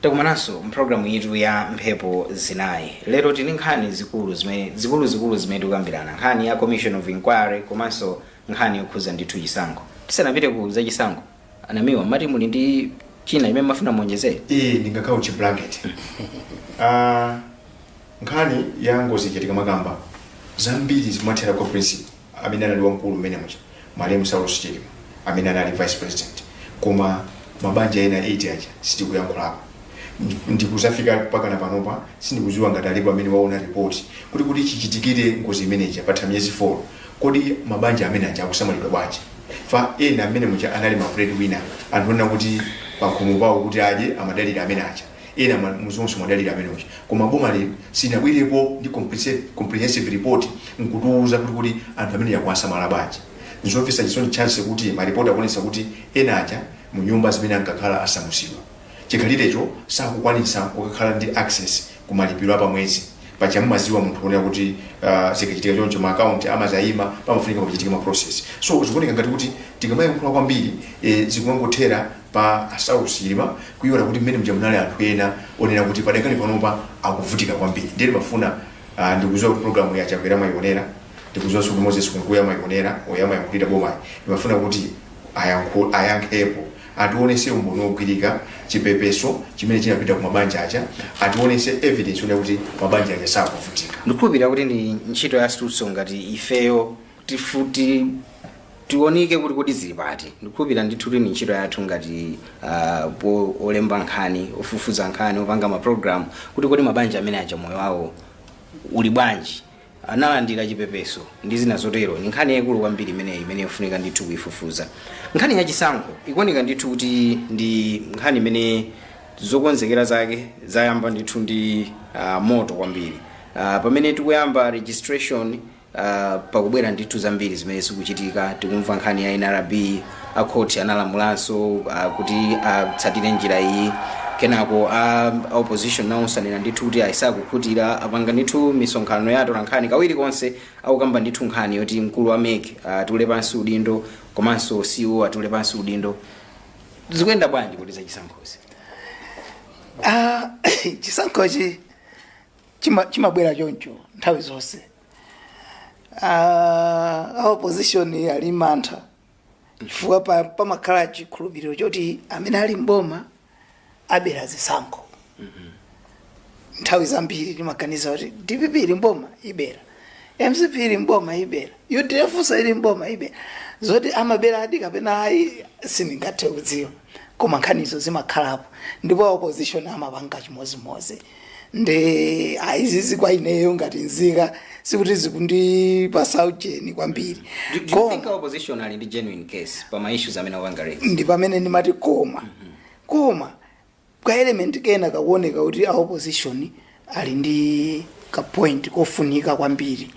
takumananso mpulogalamu iyitu ya mphepo zinayi lero tili ndi nkhani zikulu zimene zikuluzikulu zimene tikukambirana nkhani ya commission of inquiry komanso nkhani yokhuza ndithu chisankho tisanapite ku za chisankho A Namiwa, mati muli ndi china chimene mafuna muonjezere? iyi ndingakautche blanket Ah, nkhani ya ngozi ikachitika nkhani zambiri zimathera kwa principal amene anali wamkulu mmenemuja malemu saulos chilima amene anali vice president koma mabanja ena 8 aja sitikuyankhulapo Ndi- nkudzafika mpakana panopa sindikudziwa ngati alipo amene waona ripoti kuti kuti chichitikire ngozi imeneja patha miyezi 4 kodi mabanja amene aja akusamalidwa bwanji chifukwa ena mmenemuja anali ma breadwinner anthu onena kuti pakhomo pawo kuti adye amadalira amene aja ena ma- muzonse amadalira amene uja koma boma lino silinabwerepo ndi comprehensive- comprehensive report nkutiuza kuti kuti anthu amenewa akuwasamala bwanji nzomvetsa chisoni chake kuti maripoti akuonesa kuti ena aja mu nyumba zimene ankakhala asamusidwa chikhalirecho sakukwanisa kukakhala ndi access ku malipiro apamwezi paja mumaziwa munthu onena kuti uh, zikachitika choncho ma account amazayima pamafunika pachitike ma process so zikuoneka ngati kuti tikamayankhula kwambiri eh, zikungothera pa a saulos chilima kuiwala kuti mmenemuja munali anthu ena onena kuti padakali panopa akuvutika kwambiri ndiye ndimafuna uh, ndikuziwa kuti programu yi a chakwera amayionera ndikuziwa kuti moses kunkuyu amayionera oyo amayankhulira bomayo ndimafuna kuti ayankhu- ayankhepo Ationese umboni wogwirika, chipepeso chimene chinapita ku mabanja aja, ationese evidence yonena kuti mabanja aja sakuvutika. ndikukhulupirira kuti ndi ntchito yathunso ngati ifeyo kuti tiunike kuti kodi zili pati ndikukhulupirira ndithu kuti ndi ntchito yathu ngati ah, po- olemba nkhani ofufuza nkhani opanga maprogramu kuti kodi mabanja amene aja moyo wawo uli bwanji analandira chipepeso, ndi zina zotero. Ndi nkhani yaikulu kwambiri imeneyi imene yofunika ndithu kuifufuza. Nkhani ya chisankho ikuoneka ndithu kuti ndi nkhani imene zokonzekera zake zayamba ndithu ndi uh, moto kwambiri uh, pamene tikuyamba registration uh, pakubwera ndithu zambiri zimene zikuchitika tikumva nkhani ya nrb a khoti analamulanso ah, kuti atsatire njira iyi kenako a a opposition nawonso anena ndithu kuti ayi sakukhutira apanga ndithu misonkhano ya atolankhani kawiri konse akukamba ndithu nkhani yoti mkulu wa mec atule pansi udindo komanso ceo atule pansi udindo zikuyenda bwanji kuti zachisankhozi Ah, chisankhochi chima- chimabwera choncho nthawi zonse Ah, a opposition ali ndi mantha chifukwa pa- pamakhala chikhulupiriro choti amene ali mboma abera zisankho nthawi zambiri timaganiza kuti dpp ili mboma ibera mcp ili mboma ibera udf nso ili mboma ibera zoti amaberadi kapena ayi sindingathe kudziwa koma nkhanizo zimakhalapo ndipo opposition amapanga chimodzimodzi nde ayi zizi kwa ineyo ngati nzika sikuti zikundipasa ujeni kwambiri Do, do you Koma- think our opposition ali ndi genuine case pa ma issues amene apanga raise? ndi pamene ndimati koma koma ka element kena kakuoneka kuti a opposition ali ndi ka point kofunika kwambiri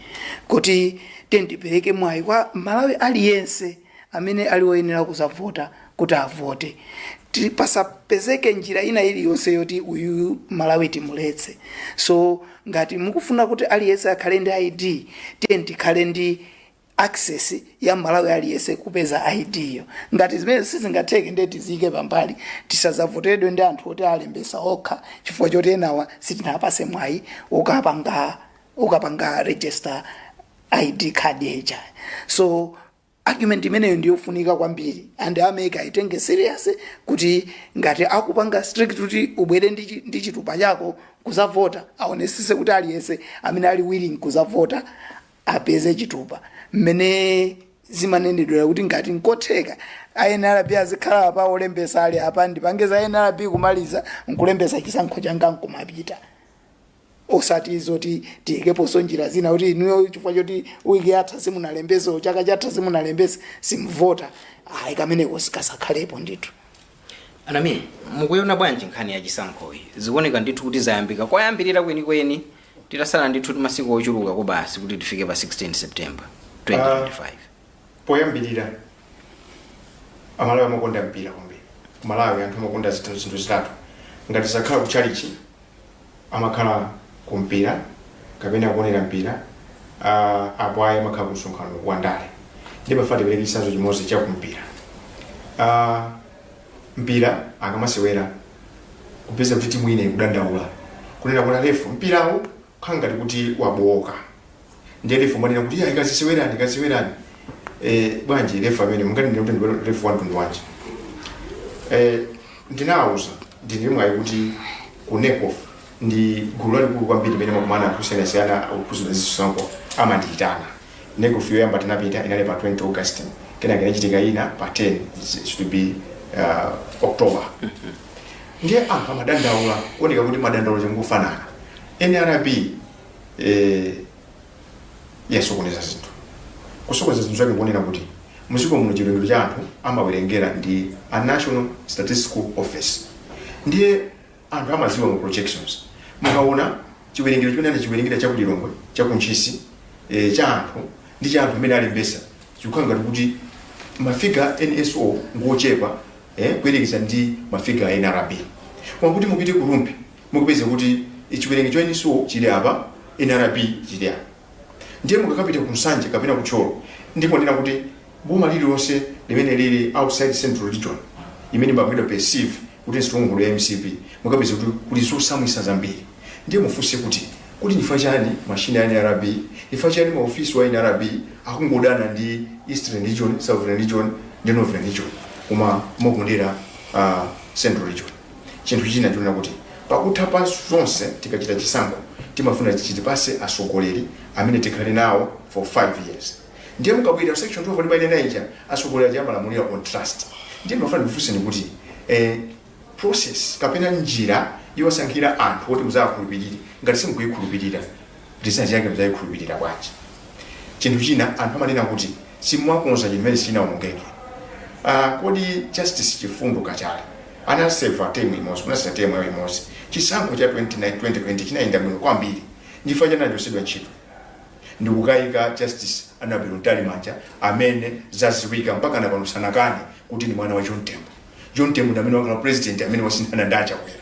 kuti tiyeni tipereke mwayi kwa mmalawi aliyense amene ali woyenera kuzavota kuti avote Ti- pasapezeke njira ina iliyonse yoti uyu mmalawi timuletse so ngati mukufuna kuti aliyense akhale ndi id tiyeni tikhale ndi access ya mmalawi aliyense kupeza id yo ngati zimenezi sizingatheke ndiye tiziike pambali tisazavotedwe ndi anthu oti alembesa okha chifukwa choti enawa sitinawapase mwayi wokapanga wokapanga register id card ija so argument imeneyo ndiyofunika kwambiri and a mec ayitenge serious kuti ngati akupanga strict kuti ubwere ndi chi- ndi chitupa chako kuzavota aonesese kuti aliyense amene ali willing kuzavota apeze chitupa mmene zimanenedwera kuti ngati nkotheka a nrb azikhala pa olembesa ali apa ndipange za nrb kumaliza nkulembesa chisankho changa nkumapita osati zoti tiyikeponso njira zina kuti inuyo chifukwa choti wiki yatha simunalembese chaka chatha simunalembese simuvota ayi kameneko sikasakhalepo ndithu anami mukuiona bwanji nkhani ya chisankhoyi zikuoneka ndithu kuti zayambika koyambirira kwenikweni titatsala ndithu ti masiku ochuluka kobasi kuti tifike pa 16 september 2025 poyambirira amalawi amakonda mpira kwambiri kumalawi anthu amakonda zinthu zitatu ngati sakhala ku chalichi amakhala ku mpira kapena kuonera mpira ah, apo ayi amakhala ku msonkhano wa ndale ndipo pafati tipereke chitsanzo chimodzi cha ku mpira Ah, mpira akamasewera kupeza kuti timu ina ikudandaula kunena kuti alefu mpirawo kukhala ngati kuti wabooka ndiye refu amanena kuti ayi kazisewerani kazisewerani eh, bwanji refu amene munganene kuti ndiwe refu wa mtundu wanji eh, ndinawuza ndili mwayi kuti ku necof ndi gulu lalikulu kwambiri limene amakumana anthu osiyanasiyana okhuzana ndi zisankho amandiyitana necof yoyamba tinapita inali pa 20 august kenaka inachitika ina pa 10 it should be uh, october ndiye anthu amadandaula kuoneka kuti madandaulo akungofanana nrb eh, yasokoneza zinthu kusokoneza zinthu zake kuonera kuti muziko muno chiwerengero cha anthu amawerengera ndi a national statistical office ndiye anthu amaziwa mu projections mukaona chiwerengero chimene anachiwerengera cha kulilongwe cha kuntchisi eh, cha anthu ndi cha anthu amene alembesa Chikukhala ngati kuti ma figure a NSO ngochepa eh, kuyerekeza ndi ma figure a NRB. Koma kuti mupite ku Rumphi mukupeza kuti chiwerengero cha NSO chili apa, NRB chili apa. Ndiye mukakapita ku Nsanje kapena ku Thyolo ndipo ndinene kuti boma lililonse limene lili outside central region imene imapangidwa perceive kuti ndi stronghold ya mcp mukupeza kuti kuli zotsamwitsa zambiri ndiye mufunse kuti ndifa chani mashini a nrb ndifa chani maofisa a nrb akungodana ndi eastern region southern region ndi northern region koma mokondera uh, central region chinthu china chonena kuti pakutha pa zonse tikachita chisankho timafuna chitipase asogoleri amene tikhale nawo for 5 years Ndiye mukabwelera ku section 12 ndimanena ija, atsogoleri aja amalamulira on trust. Ndiye ndimafuna ndikufunseni kuti eh, process kapena njira yowasankhira anthu oti muzawakhulupirire ngati simukuyikhulupirira result yake muzayikhulupirira bwanji? Chinthu china anthu amanena kuti simumakonza chimene sichinaonongeke. Ah, kodi justice chifundo kachali anaseva temu imodzi kunatsala temu yawo imodzi chisankho cha 2019 2020 chinayenda bwino kwambiri ndifa chani anachotsedwa ntchito Ndikukaika Justice Anabel Mtalimanja amene zaziwika mpakana pano sanakane kuti ndi mwana wa John Tembo. John Tembo ndi amene wakhala president amene wasinthana ndi Achakwera.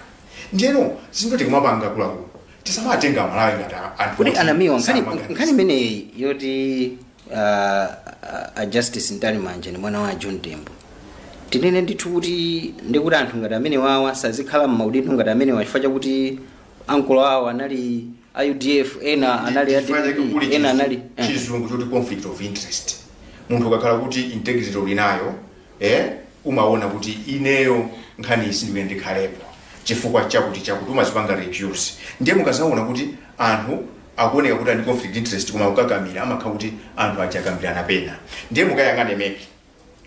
Ndiyeno zinthu tikamapanga akuluakulu tisamatenga Amalawi ngati a- anthu kuti oti anamiwa nkhani samaganiza. nkhani imeneyi yoti uh, uh, a justice mtalimanja ni mwana wa john tembo tinene ndithu kuti ndikuti anthu ngati amenewawa asazikhala m'maudindo ngati amenewa chifukwa chakuti akulu awo anali a udf ena anali a Chifukwa chake DPP, kuli ena anali chizu- eh. chizungu choti conflict of interest munthu ukakhala kuti integrity uli nayo eh, umaona kuti ineyo nkhani isi ndiwe ndikhalepo chifukwa chakuti chakuti umazipanga recuse ndiye mukazaona kuti anthu akuoneka kuti ali conflict interest koma ukakamira amakhala kuti anthu akukakamira pena ndiye mukayang'ane mec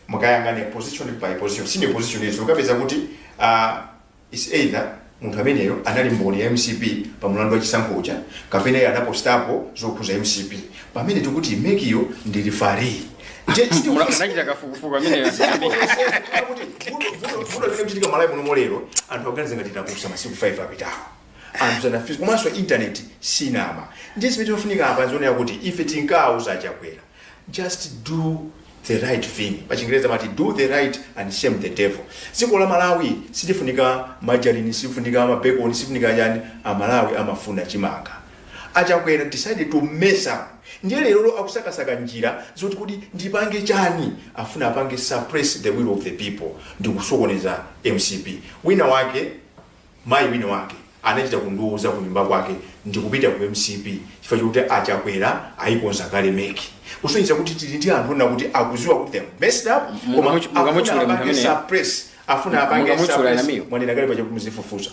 mukayang'ane position by position senior position izo ukapeza kuti uh, It's either munthu ameneyo anali mboni ya mcp pa mulandu wa chisankho uja kapena iye anapostapo zokhuza mcp pamene tikuti mekiyo ndi referee Je- siti- Mula- munachita kafukufuku ameneyo asiyambike. Kuti vuto- vuto- vuto limene kuchitika malawi muno molero anthu akuganiza ngati takusha masiku 5 apitawo anthu sanamvetse komanso intaneti sinama ndiye zimene timafunika apa ndi zonena kuti ife tinkauza achakwera Just do the right thing. Pa chingereza amati do the right and shame the devil. Dziko la Malawi silifunika majalini, silifunika mabekoni, silifunika chani. A Malawi amafuna chimanga. Achakwera decided to mess up. Ndiye lero akusakasaka njira zoti kodi ndipange chani afuna apange suppress the will of the people ndi kusokoneza mcp wina wake Mayi wina wake anachita kundiuza kunyumba kwake ndikupita ku mcp chifukwa chokuti a Chakwera ayikonza kale mec. Kusonyeza kuti tili ndi anthu onena kuti akuziwa kuti they have messed up koma Mungamuchu- afuna mungamuchule munthu apange ameneyo? suppress. Afuna apange Mungamuchule suppress. anamiyo? Mwanena kale paja kumuzifufuza.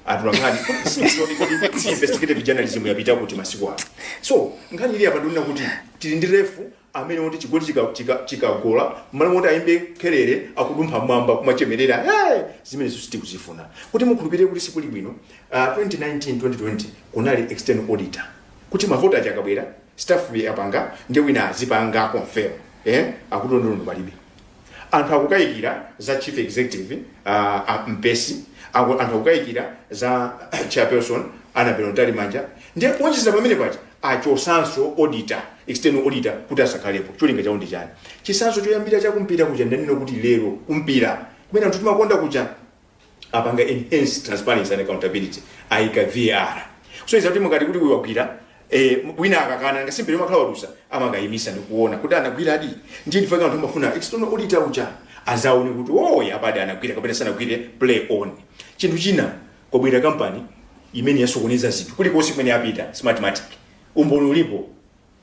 Atolankhani sindiziwa kuti investigative journalism yapita kuti masiku ano. So nkhani ili apa ndonena kuti tili ndi refu amene woti chigoli chikagola chika, chika chikagola, mmalo moti ayimbe khelele akudumpha mmwamba kumachemerera hey! zimenezo sitikuzifuna kuti mukhulupirire kuti sikuli bwino uh, 2019 2020 kunali external auditor kuti mavoti aja akabwera staff yapanga ndiye wina azipanga confirm eh? akuti ndondomeko palibe Anthu akukayikira za chief executive uh, a Mpesi, aku- anthu akukayikira za chairperson Annabel Mtalimanja, nde kuonjezera pamene paja achosanso auditor, external auditor kuti asakhalepo. Cholinga chawo ndi chani? Chisanzo choyambira chakumpira kuja ndanena kuti lero kumpira kumene anthu timakonda kuja apanga enhance transparency and accountability ayika var kusonyeza kuti mukati kuti wagwira eh, wina akakana nthawi zina mpira umakhala wadusa amakayimitsa ndikuona kuti anagwira adi ndiye ndi chifukwa chake anthu amafuna external auditor uja azaone kuti oyi apadi anagwira kapena sanagwire play on chinthu china kwabwera kampani imene yasokoneza zinthu kulikonse kumene yapita smartmatic umboni ulipo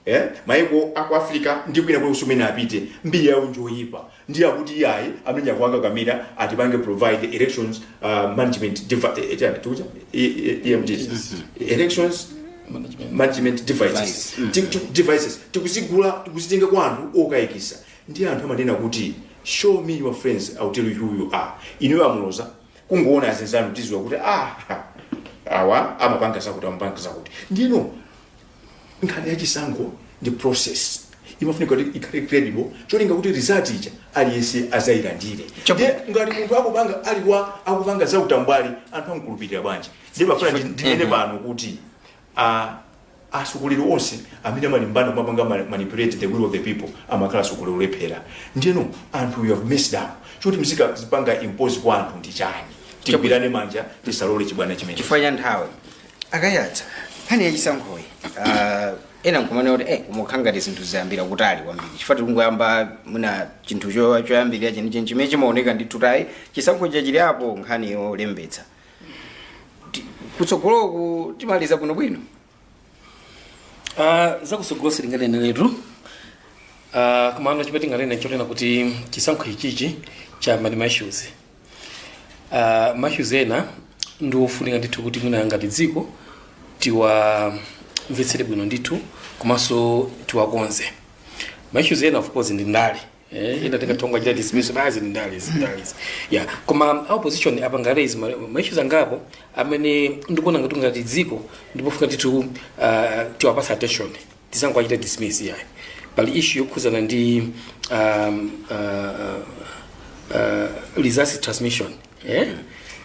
eh maiko aku africa ndi kwina kulikonse kumene apita mbiri yawo njoyipa ndiye akuti iyayi amene akuwakakamira atipangire provide elections uh, management devi- eh, eh, tikuti? E- e- EMDs. elections management devices Ti- ti- devices tikuzigula tikuzitenga kwa anthu okayikisa ndi anthu amanena kuti show me your friends I'll tell you who you are ineyo nditha kungoona azinzanu tiziwa kuti ah awa amapanga zakuti amapanga zakuti ndiyeno nkhani ya chisankho ndi process imafunika kuti ikhale credible cholinga kuti result ija aliyense azayilandire Chabu- ndiye ngati munthu akupanga ali wa- akupanga za utambwali anthu amkhulupirira bwanji ndiye pano ndifuna ndi- ndinene pano kuti ah, atsogoleri onse amene amalimbana kumapanga ma- manipulate the will of the people amakhala atsogoleri olephera ndiyeno anthu you have messed up choti muzikazipanga impose kwa anthu ndi chani tigwirane manja tisalole chibwana chimenechi chifukwa cha nthawi akaya- za nkhani yachisankhoyi ah, ena nkumanena kuti eh, koma ukukhala ngati zinthu zayambira kutali kwambiri chifukwa tikungoyamba mwina chinthu cho- choyambirira chenicheni chimene chimaoneka ndi kutayi chisankho chachilikapo nkhani yolembetsa Ti- kutsogoloku timaliza bwinobwino Ah, zakutsogolo sindinganeneretu Ah, komano chimene tinganene nchonena kuti chisankho ichichi chabwera ndi ma issues uh, ma issues ena ndi ofunika ndithu kuti mwina ngati dziko tiwamvetsere bwino ndithu komanso tiwakonze ma issues ena of course ndi ndale eh, ena tingathe kungowachita dismiss basi ndi ndale izi, ndale izi. yeah koma a opposition apanga raise ma- ma issues angapo amene ndikuona ngati ngati dziko ndi pofunika ndithu uh, tiwapatse attention tisangowachita dismiss iyayi pali issue yokhuzana ndi um, uh, uh, results transmission eh?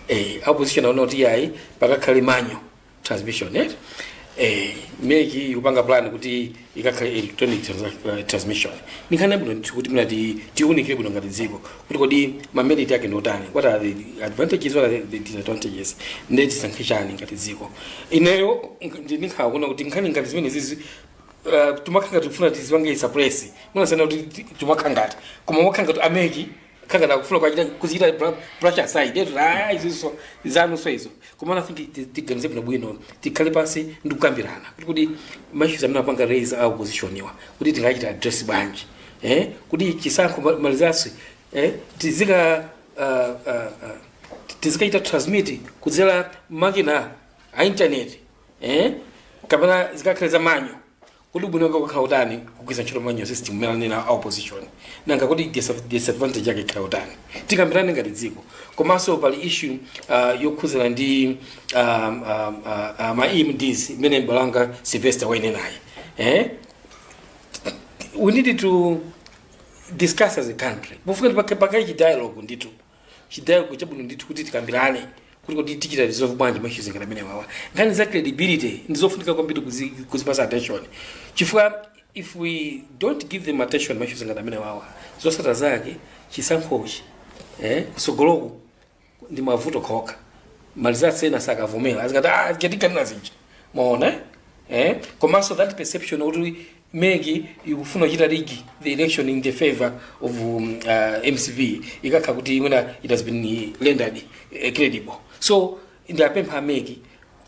eh, a opposition akufuna kuti iyayi pakakhale manual transmission eh? eh, MEC ikupanga plan kuti ikakhale electronic transa- uh, transmission ndi nkhani yabwino ndithu kuti mwina ti- tiunikire bwino ngati dziko kuti kodi ma merit ake ndi otani what are the advantages what are the disadvantages ndiye tisankhe chani ngati dziko ineyo ndikukhala kuona kuti nkhani ngati zimene zizi uh, tumakhala ngati tikufuna tizipange suppress mwina osanena kuti ti- tumakhala ngati koma akukhala ngati a MEC akukhala ngati akufuna kuchita kuzichita bra- brush aside eti ah iziso zanuso izo koma i think ti- tiganize bwino bwino tikhale pansi ndi kukambirana kuti kuti ma issues amene apanga raise a opposition awa kuti tingawachite address bwanji eh, kuti chisankho ma- ma results eh, tizika uh, uh, uh, tizikachita transmit kudzera makina a intaneti eh, kapena zikakhale za manual kuti ubwino wake ukakhala utani kugwiritsa ntchito manual system imene akunena a opposition nanga kuti dis- disadvantage yake ikhala utani tikambirane ngati dziko komanso pali issue uh, yokhuzana ndi um, um, uh, uh, ma emds imene m'bale wanga sylvester wainenayi eh? we need to discuss as a country pofunika pakhale chidialogue ndithu chidialogue chabwino ndithu kuti tikambirane kuti kodi tichita resolve bwanji maissues ngati amenewawa nkhani za credibility ndizofunika kwambiri kuzi- kuzipasa attention chifukwa if we don't give them attention maissues ngati amenewawa zosatira zake chisankhochi eh, kusogoloku ndi mavuto okhaokha ma results ena sakavomera azikati aja tinkanena zija maona eh? eh? komanso that perception kuti mec ikufuna kuchita rig the election in the favor of um, uh, mcp ikakhala kuti imwena it has been rendered uh, credible so ndiwapempha a mec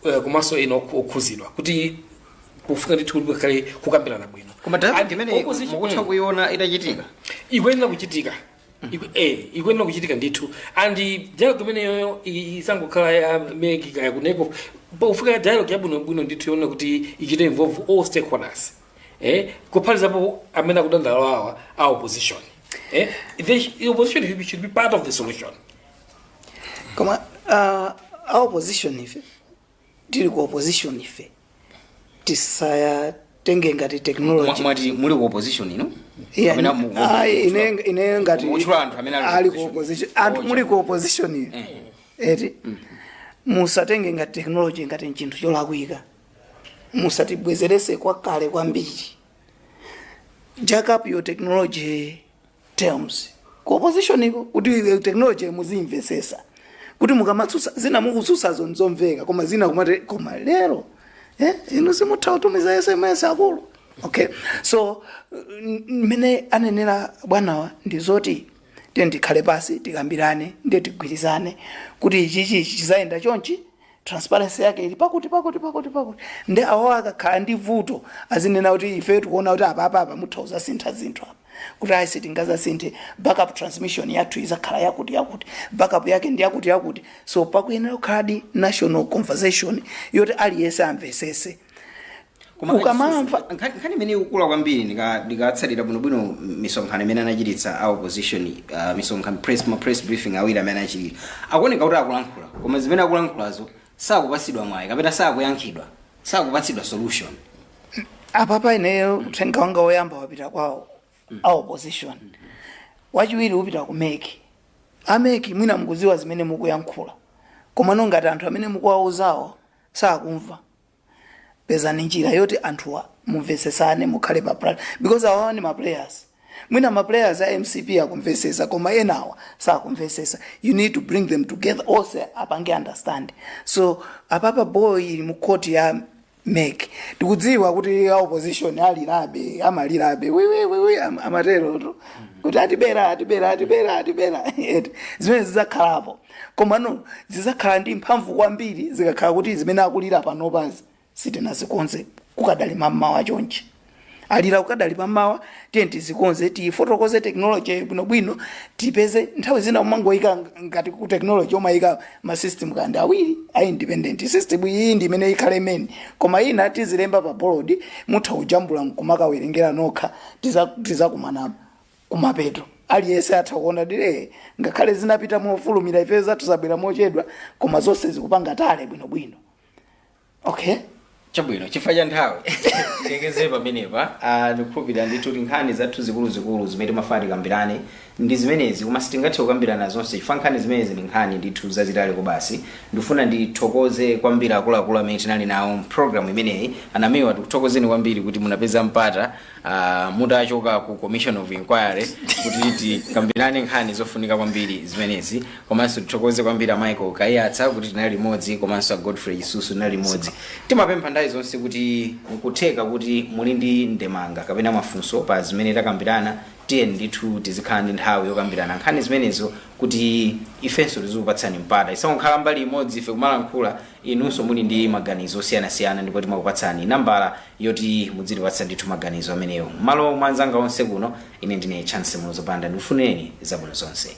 uh, komanso ena okhu- okhuzidwa kuti kufunika ndithu kuti kukhale kukambirana bwino koma And dialogue imene opposition- mukutha mm kuiona itachitika ikuyenera kuchitika Iku- eh, ikuyenera kuchitika ndithu and dialogue imeneyoyo i- isangokhala ya mec kaya kuneko pofunika dialogue yabwinobwino ndithu yoona kuti ichite involve all stakeholders eh, kuphatikizapo amene akudandaula awa a opposition eh, they, sh- the opposition should be- should be part of the solution koma uh, a opposition ife tili ku opposition ife tisatenge ngati Mwa- technology mwati muli ku opposition ino Yeah, Kapena mu- mu- ayi, ine ine ngati Mukutchula anthu amene ali ku ali ku opposition. opposition anthu muli ku opposition iyo Eh. eti musatenge ngati technology ngati nchinthu cholakwika musatibwezerese kwakale kwambiri jack up your technology terms ku opposition iko kuti eh, technology muzimvesesa kuti mukamatsutsa zina mukutsutsazo nzomveka koma zina kumati koma lero eh, inu simutha kutumiza sms akulu okay so n- mmene anenera bwanawa ndi zoti tiyeni tikhale pansi tikambirane ndiye tigwirizane kuti ichichi chizayenda chonchi transparency yake ili pakuti pakuti pakuti pakuti nde awo akakhala ndi vuto azinena kuti ife tikuona kuti apa apa apa mutha kuzasintha zinthu apa kuti ayi sitingazasinthe backup transmission yathu izakhala yakuti yakuti backup yake ndi yakuti yakuti so pakuyenera kukhaladi national conversation yoti aliyense amvesese Koma Ukamamva- issue- nkhani nkhani imene ikukula kwambiri ndika- ndikatsatira bwinobwino misonkhano imene anachititsa a opposition uh, misonkhano press ma press briefing awiri amene anachitira akuoneka kuti akulankhula koma zimene akulankhulazo sakupatsidwa mwayi kapena sakuyankhidwa sakupatsidwa solution apapa ineyo uthenga wanga woyamba wapita kwawo a opposition wachiwiri upita ku mec a mec mwina mukuziwa zimene mukuyankhula komano ngati anthu amene mukuwauzawo sakumva pezani njira yoti anthuwa mumvetsesane mukhale pa plan because awawa ni maplayers mwina maplayers a mcp akumvesesa koma enawa sakumvesesa you need to bring them together onse apange understand so apapa ball ili mu court ya mec tikudziwa kuti a opposition alirabe amalirabe wiwiwiwi amaterotu kuti atibera atibera atibera atibera Eti, zimene zidzakhalapo Komano zidzakhala ndi mphamvu kwambiri zikakhala kuti zimene akulira panopazi sitinazikonze kukadali mammawa chonchi. Alira kukadali mammawa, tiyeni tizikonze, tiifotokoze tekinolojiyo bwinobwino, tipeze nthawi zina umangoyika ngati ku tekinoloji umayika ma system kaya ndi awiri a independent. System iyi ndi imene ikhale main, koma ina tizilemba pa bolodi, mutha kujambula n'kumakawerengera nokha, tiza- tizakumana kumapeto aliyense atha kuona dire ngakhale zinapita mofulumira ifeyo zathu zabwera mochedwa koma zonse zikupanga tally bwinobwino okay chabwino chifukwa cha nthawi tilekezere pamenepa Ah, ndikukhulupirira ndithu kuti nkhani zathu zikuluzikulu zimene timafuna tikambirane ndi zimenezi koma sitingathe kukambirana zonse chifukwa nkhani zimenezi ndi nkhani ndithu zazitali kwabasi ndifuna ndithokoze kwambiri akuluakulu amene tinali nawo mpulogalamu imeneyi a namiwa tikuthokozeni kwambiri kuti munapeza mpata uh, mutachoka ku commission of inquiry kuti tikambirane nkhani zofunika kwambiri zimenezi komanso tithokoze kwambiri a michael kaiyatsa kuti tinali limodzi komanso a godfrey chisusu tinali limodzi timapempha nthawi zonse kuti nkutheka kuti muli ndi ndemanga kapena mafunso pa zimene takambirana tiyeni ndithu tizikhala ndi nthawi yokambirana nkhani zimenezo kuti ifenso tizikupatsani mpata isakukhala mbali imodzi ife kumalankhula inunso muli ndi maganizo osiyanasiyana ndipo timakupatsani nambala yoti mudzitipatsa ndithu maganizo amenewo. Mmalo mwa anzanga onse kuno, ine ndine Chancy Muloza Banda, ndikufunireni zabwino zonse.